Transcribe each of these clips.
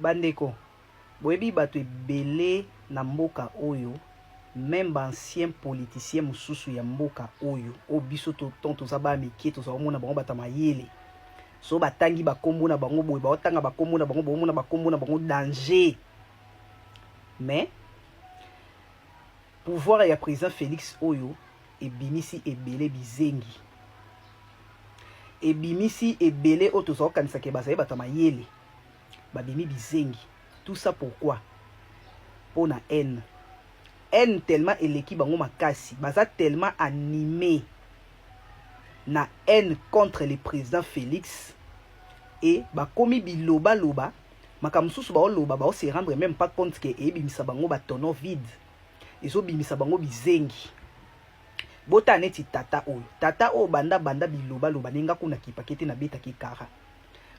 Bandeko, boyebi bato ebele na mboka oyo, meme ba anciens politiciens mosusu ya mboka oyo, oyo biso tant toza bana mike tozala komona bango bata mayele, so batangi bakombo na bango boye, baotanga bakombo na bango, bomona bakombo na bango danger. Mais Pouvoir ya president Felix oyo ebimisi ebele bizengi. Ebimisi ebele oyo tozali kokanisa ke bazali bato ya mayele. Babimi bizengi. Tout ça pourquoi? Mpo na haine. Haine tellement eleki bango makasi. Baza tellement animé na haine contre le president Felix et bakomi biloba loba makambo mosusu baoloba bao se rendre meme pas compte ke ebimisa bango ba tono vide ezobimisa bango bizengi bota neti tata oyo tata oyo banda banda bilobaloba ndenge nga kuna kipake te nabetaki kara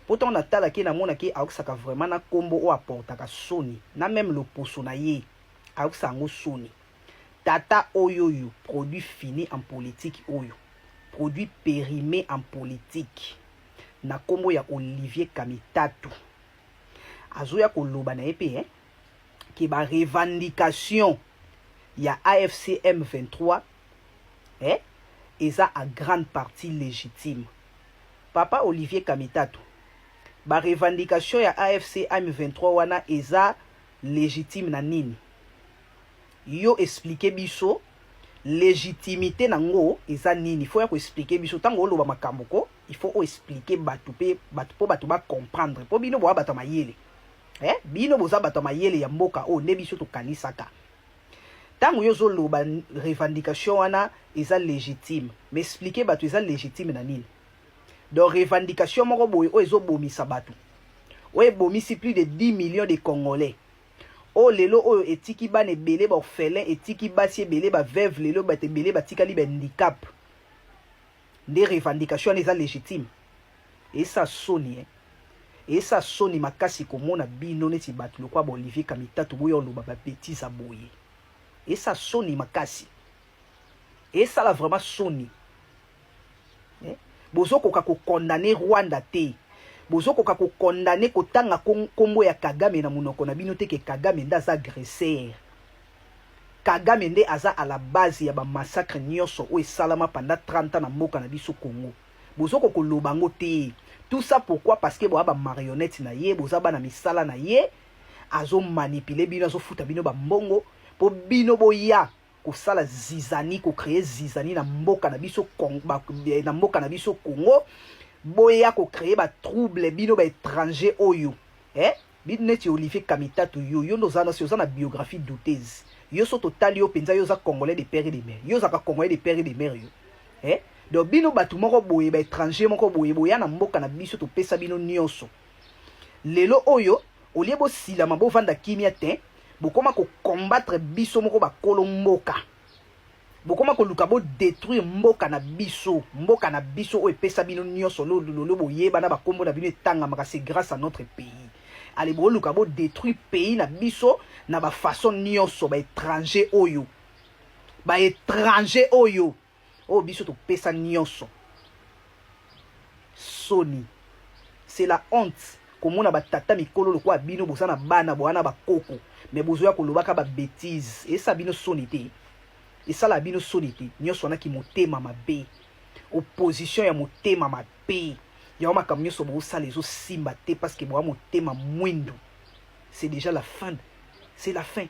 mpo ntango natalaki ye namonaki ayokisaka vraiment na nkombo oyo aportaka soni na meme loposo na ye ayokisa yango soni tata oyo oyo produit fini en politique oyo produit perime en politique na kombo ya Olivier Kamitatu azoya koloba na ye mpe eh, ke ba revendication ya AFC M23 eh, eza a grande partie légitime. Papa Olivier Kamitatu, ba revendication ya AFC M23 wana eza légitime na nini? Yo explique biso legitimite na ngo eza nini faut ya ko explique biso tango oloba makambo ko il faut o explique batu pe batu po batu ba comprendre po bino boa batu mayele eh bino boza batu mayele ya mboka o nde biso tokanisaka ntango yo ozoloba revendication wana eza légitime mais expliquer bato eza légitime na nini donc revendication moko boye oyo ezobomisa bato oyo ebomisi plus de 10 millions de congolais oyo lelo oyo etiki bana ebele ba orphelin etiki basi ebele ba veuve lelo bato ebele batikali ba handicap nde revendication wana eza legitime esa soni eh? esa soni makasi komona bino neti bato lokwa ba olivier kamitatu boya oloba ba betise boye esa soni makasi esala vraiment soni eh? bozokoka kokondane rwanda te bozokoka kokondane kotanga nkombo ya kagame na monoko na bino te ke kagame nde aza agresser kagame nde aza a la base ya bamassacre nyonso oyo esalama panda 30 ans na mboka na biso congo bozoko koloba yango te tout ça pourquoi parce que boya bamarionnette na ye boza bana misala na ye azomanipule bino azofuta bino bambongo mpo bino boya kosala zizani ko créer zizani na mboka na biso eh, na mboka na biso Congo boya ko créer ba trouble bino ba étranger oyo eh bino neti Olivier Kamitatu yo yo ndoza na oza na biographie douteuse yo so totali yo penza yo za congolais de père et de mère yo za ka congolais de père et de mère yo eh donc bino batu moko boye ba étranger moko boye boya na mboka na biso topesa bino nioso Lelo oyo au lieu bo silama bo vanda kimia tein, bokoma ko combattre biso moko ba kolo mboka. Bokoma koluka bo detruire mboka na biso, mboka na biso oyo epesa bino nionso lo lolio boyeba na ba kombo na bino etangamaka c'est grace à notre pays. Allez boluka bo detruire pays na biso na ba façon nionso ba etrangers oyo. Ba etrangers oyo. oyo biso topesa nyonso soni c'est la honte komona batata mikolo lokola bino boza na bana bowana bakoko me bozoya kolobaka babetise esala bino soni te esala bino soni te nyonso wana kimotema mabe opposition ya motema mabe yango makambo nyonso bosala ezosimba te parceke boya motema mwindu c'est déjà la fin c'est la fin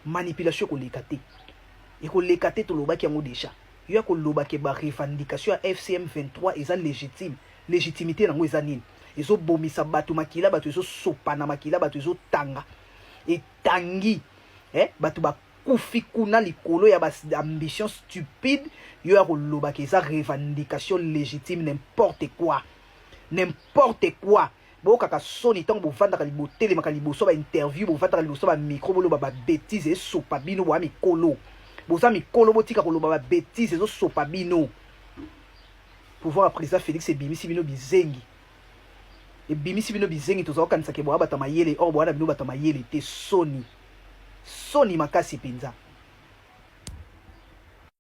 Manipulation ekoleka te. Ekoleka te tolobaki yango deja. Yo ya koloba ke ba revendication ya FCM 23 eza legitime. Legitimite nango eza nini? Ezo bomisa bato makila, bato ezo sopana makila, bato ezo tanga. Etangi eh bato ba kufi kuna likolo ya ba ambition stupide yo ya koloba ke eza revendication legitime n'importe quoi. N'importe quoi. Boyokaka soni tango bovandaka botelemaka liboso ba interview bovandaka liboso ba micro boloba ba betises esopa bino boa mikolo boza mikolo botika koloba ba betises ezosopa bino pouvoir ya président Félix ebimisi bino bizengi ebimisi bino bizengi tozala kokanisa ke boa bata mayele or boa na bino bata mayele te soni soni makasi mpenza